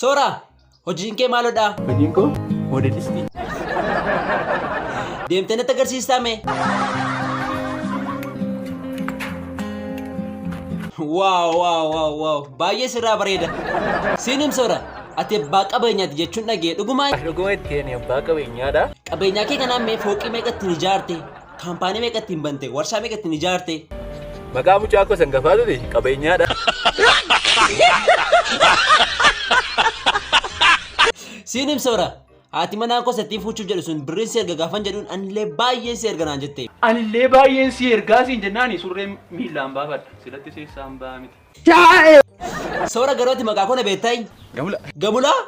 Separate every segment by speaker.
Speaker 1: Soora, hojiin kee maaloo dha? Hojiin koo
Speaker 2: moodelistii.
Speaker 1: Deemtee natti agarsiistaa mee? Waaw waaw waaw waaw baay'ee sirraa bareeda. Siinim soora, ati abbaa qabeenyaati jechuun dhagee dhugumaa Dhuguma itti ani abbaa
Speaker 2: qabeenyaadha. qabeenyaa kee kanaan
Speaker 1: mee fooqii meeqa ittiin ijaarte? Kaampaanii meeqa ittiin bante? Warshaa meeqa ittiin ijaarte? Maqaa mucaa
Speaker 2: koo san gafaa ture qabeenyaadha.
Speaker 1: Siin himsoora. Haati manaa koo sattiin fuuchuuf jedhu sun birriin si erga gaafan jedhuun anillee baay'een si erga naan jette. Anillee baay'een si
Speaker 2: ergaa siin jennaani surree miillaan baafadha. Silatti seessaan baa miti.
Speaker 1: Soora garuu ati maqaa koo na beektayi? Gamula. Gamulaa?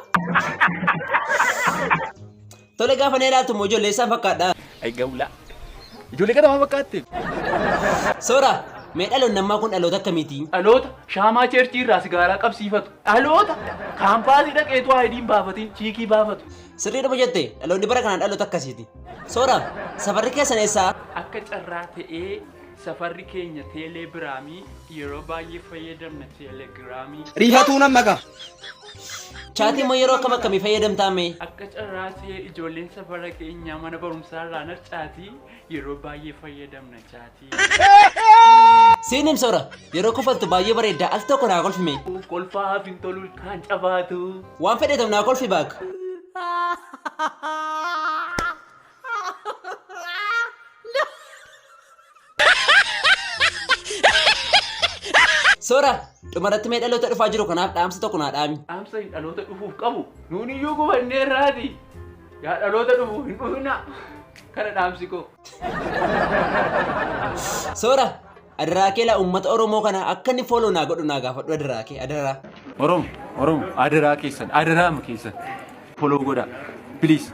Speaker 1: Tole gaafa na ilaaltu immoo ijoollee isaan fakkaadha. Ay gawlaa.
Speaker 2: Ijoollee kana waan fakkaatte.
Speaker 1: Soora, mee dhaloonni ammaa kun dhaloota akkamiiti? Dhaloota shaamaa
Speaker 2: cheerchii irraa sigaaraa qabsiifatu. Dhaloota kaampaasii dhaqeetu aayidiin baafatiin chiikii baafatu. Sirriidhuma jette,
Speaker 1: dhaloonni bara kanaa dhaloota akkasiiti. Soora, safarri keessan eessaa? Akka carraa
Speaker 2: ta'ee Safarri keenya teelee biraamii yeroo baay'ee fayyadamna teelegiraamii. Rifatuu nan maqa.
Speaker 1: Chaatii immoo yeroo akkam akkamii fayyadamtaa mee? Akka carraa
Speaker 2: ta'ee ijoolleen safara keenyaa mana barumsaa irraan harcaatii yeroo baay'ee fayyadamna chaatii.
Speaker 1: Siin him soora yeroo kofaltu baay'ee bareedda al tokko naa kolfi mee? Uuf kolfaa haaf hin
Speaker 2: tolu kaan cabaatu. Waan fedheetam naa
Speaker 1: kolfi baak. Soora, dhumarratti mee dhaloota dhufaa jiru kanaaf dhaamsa tokko naa dhaami. Dhaamsa hin dhaloota dhufuuf
Speaker 2: qabu. Nuun iyyuu gubannee irraati. Yaa dhaloota dhufu hin dhufina. Kana dhaamsi koo.
Speaker 1: Soora, adaraa kee laa uummata Oromoo kana akka inni fooloo naa godhu naa gaafadhu adaraa kee adaraa. Oromo, Oromo,
Speaker 2: adaraa keessan, adaraama keessan. Follow godhaa. Please.